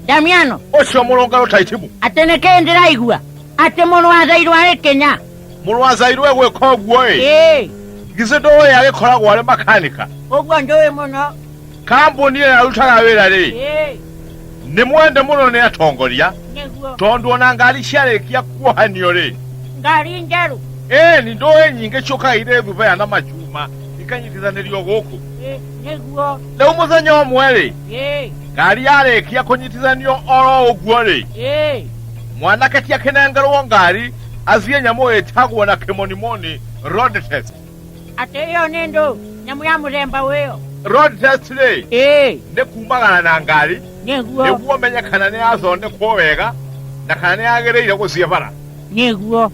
damiano ũcio mũrũngano taitimu atĩ nĩ kĩĩ ndĩraigua atĩ mũrũ wa thairũ arĩ kĩnya mũrũ wa zairũ egwĩka ũguo-ĩ ĩĩ githĩ ndũĩ agĩkoragwo arĩ makanika ũguo njũĩ mũno kambuni ĩyo arutaga wĩra-rĩ ĩĩ nĩ mwende mũno nĩ atongoria nĩguo tondũ ona ngari ciarĩkia kuohanio-rĩ ngari njerũ ĩĩ nĩ ndũĩ nyingĩ ciũkaga irĩ thubea na macuma ikanyitithanĩrio gũkũ ĩĩ nĩguo rĩu mũthenya ũmwe-rĩ ĩĩ ngari yarĩkia kũnyitithanio oro ũguo-rĩ Ĩĩ. mwanake ti akĩnengerwo ngari athiĩ nyamũ ĩtagwo na kĩmonimoni road test Atĩ ĩyo nĩ ndũ nyamũ ya mũthemba ũyũ. road test rĩ Ĩĩ. nĩ kumagana na ngari Nĩguo. nĩguo menye kana nĩ yathondekwo wega na kana nĩ yagĩrĩire gũthiĩ bara Nĩguo.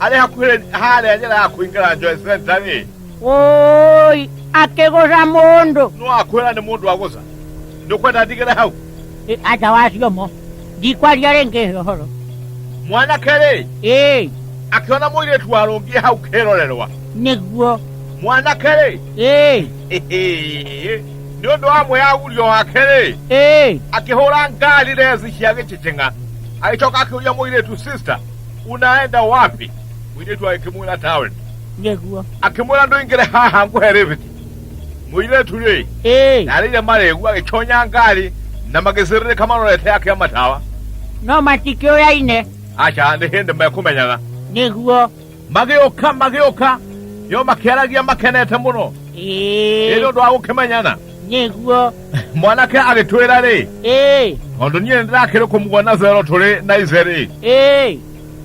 arĩ hakuhĩ harĩa njĩra ya kũingĩra njoe centa rĩ woi akĩgũca mũndũ no akwĩra nĩ mũndũ agũca ndũkwenda ndigĩre hau Ĩ, aca wacio mo ndikwaria rĩngĩ he ũhoro mwanake rĩ ĩĩ akĩona mũirĩtu warũngiĩ hau kĩrorerwa nĩguo mwanake rĩ ĩĩ nĩ ũndũ wa mwĩyagurio wake rĩ ĩĩ akĩhũra ngari resi cia gĩcicing'a agĩcoka akĩũria mũirĩtu sister unaenda wapi mwiritu wa kimula town ngeguo akimwira ndũingĩre haha ngũhe rĩbiti mũirĩtu rĩ ĩĩ narĩire marĩgu agĩconya ngari na magĩcĩrĩrĩka marorete akĩa matawa no matikĩũyaine aca nĩ hĩndĩ mekũmenyana nĩguo magĩũka magĩũka yo makĩaragia makenete mũno ĩĩ ĩrĩ ũndũ wa gũkĩmenyana nĩguo mwanake agĩtwĩra rĩ ĩĩ tondũ niĩ nĩndĩrakĩrĩ kũmuona zero tũrĩ na ize rĩ ĩĩ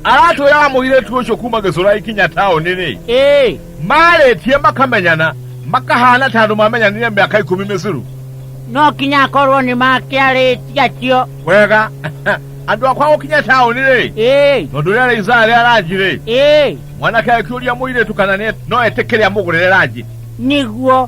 aratwĩraga mũirĩtu ũcio kuma gĩcũra ikinya taũni-rĩ ĩĩ marĩtie makamenyana makahana ta andũ mamenyanire mĩaka ikũmi mĩcuru no kinya akorwo nĩ makĩarĩtie acio wega andũ akwa gũkinya taũni-rĩ ĩĩ tondũ rĩa rĩisaa rĩa ranji-rĩ ĩĩ mwanake akĩũria mũirĩtu kana nĩ- no etĩkĩre amũgũrĩre ranji nĩguo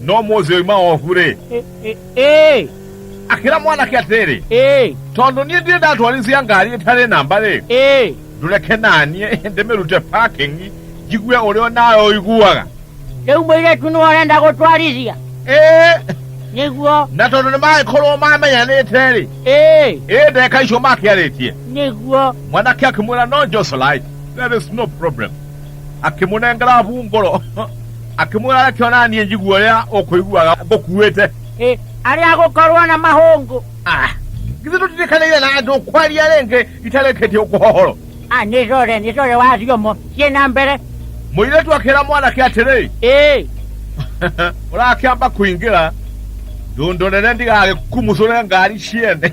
no mũthĩ oima oku rĩ Ĩ- ĩ- ĩĩ akĩra mwanake atĩrĩ ĩĩ tondũ niĩ ndirĩ ndatwarithia ngari ĩtarĩ namba rĩ ĩĩ ndũreke naniĩ ndĩmĩrute parking njigue ũrĩa nawe ũiguaga rĩu mũirĩtu nĩ ũrenda gũtwarithia ĩĩ nĩguo na tondũ nĩ magĩkorwo mamenyanĩte rĩ ĩĩ ĩĩ ndeka icio makĩarĩtie nĩguo mwanake akĩmwĩra no joselite there is no problem akĩmũnengera abu ngoro akĩmwĩra reke ona niĩ njiguo rĩa ũkũiguaga ngũkuĩte Ĩ, arĩa gũkorwo na mahũngũ Ah, githĩ tũtirikanĩire na andũ kwaria rĩngĩ itarĩkĩtie ũkũhohoro a nĩ rore nĩ rore wa thiomo ciĩ na mbere mũirĩtu akĩra mwanake atĩrĩ ĩ ũrakĩamba kũingĩra ndũndũ nene ndigagĩkumucũre ngari ciene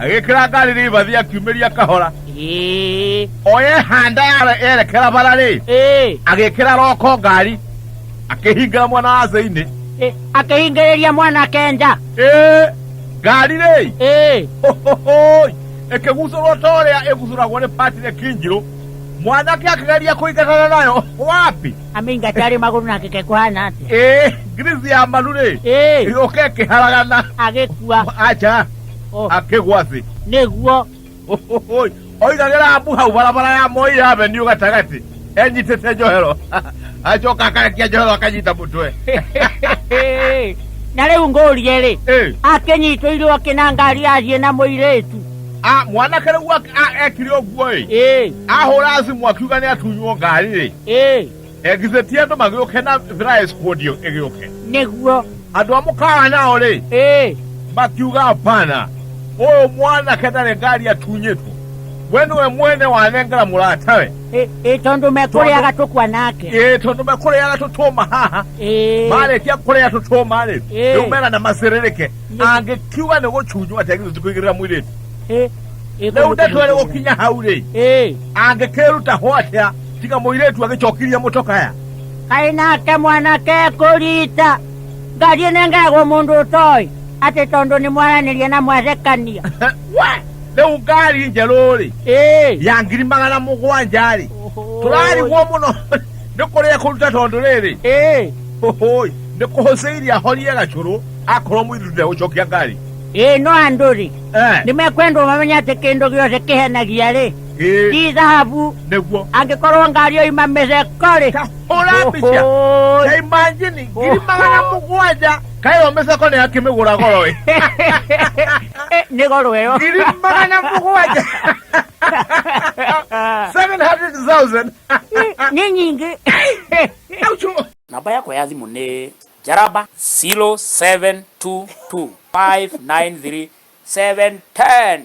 agĩkĩra ngari rĩbathi akiumĩria kahora Ĩĩ, oyehanda yerekera bara rĩ ĩĩ, agĩkĩra roko ngari akĩhingĩra mwana wa thĩinĩ ĩĩ, akĩhingĩrĩria mwana kenja ĩ ngari rĩ Ĩĩ, Hohohoi! ĩkĩgucũrwo ta ũrĩa ĩgucũragwo nĩ pati rĩ kinjirũ mwanake akĩgeria kũingatana nayo wapi amĩingate arĩ magũrũ na kĩke kũhana atĩa ĩ ngirici ya maru rĩ Ĩĩ, ĩgĩũka ĩkĩharagana agĩkua aca Oh. akĩgwa thĩ nĩguo Ũhũhũi. oigagĩra mbu hau barabara ya moi ya avenue gatagatĩ enyitĩte njohero acoka akarekia njohero akanyita mũtwe na rĩu ngũrie rĩ Ĩ. akĩnyitĩirwo akĩ na ngari athiĩ na mũirĩtu Ah, mwanake rĩu ak- ah, ekire ũguo ĩ ĩĩ ahũra thimũ akiuga nĩ atunywo ngari rĩ ĩĩ Githĩ ti andũ magĩũke na thrice kuondio ĩgĩũke? nĩguo Andũ a mũkawa nao-rĩ, ĩĩ makiuga hapana, ũyũ mwanake ndarĩ ngari atunyĩtwo. We nĩwe mwene wanengera mũratawe. ĩ- ĩ tondũ mekũrĩaga tũkwa nake Ĩĩ tondũ mekũrĩaga tũtũma haha. ĩĩ Marĩkia kũrĩa tũtũma-rĩ, Ĩĩ. rĩu mena na macĩrĩrĩke. Nĩ- Angĩkiuga nĩ gũcunywo atĩa githĩ ti kũigĩrĩra mũirĩtu? ĩ- ĩ Rĩu kũndũ ndeto ĩrĩ kũrĩa gũkinya hau-rĩ, ĩĩ angĩkĩruta ho atĩa tiga mũirĩtu agĩcokirie mũcokaya kaĩ nake mwanake ekũrita ngathiĩ nengegwo mũndũ ũtoĩ atĩ tondũ nĩ mwaranĩria na mwathekania we rĩu ngari njerũ-rĩ Ĩĩ. ya ngiri magana mũgwanja-rĩ tũrarigwo mũno nĩ kũrĩa kũruta tondũ rĩrĩ Ĩĩ. hũhũi nĩ kũhũcĩirie ahorie gacũrũ akorwo mũirĩtu ndegũcokia ngari Ĩĩ no andũ-rĩ Eh. nĩ mekwendwo mamenye atĩ kĩndũ gĩothe kĩhenagia-rĩ Ĩ, ti thahabu nĩguo angĩkorwo ngari ũyũ imameze korĩ kahũra mbica Ohoy. na imanjini ngiri magana mũgwanja kaĩyo mĩceko nĩ akĩmĩgũra goro ĩ Eh, nĩ goro ĩyo ngiri magana mũgwanja 700,000 nĩ nyingĩ Aucho. namba yakwa ya thimũ nĩ njaramba 0722593710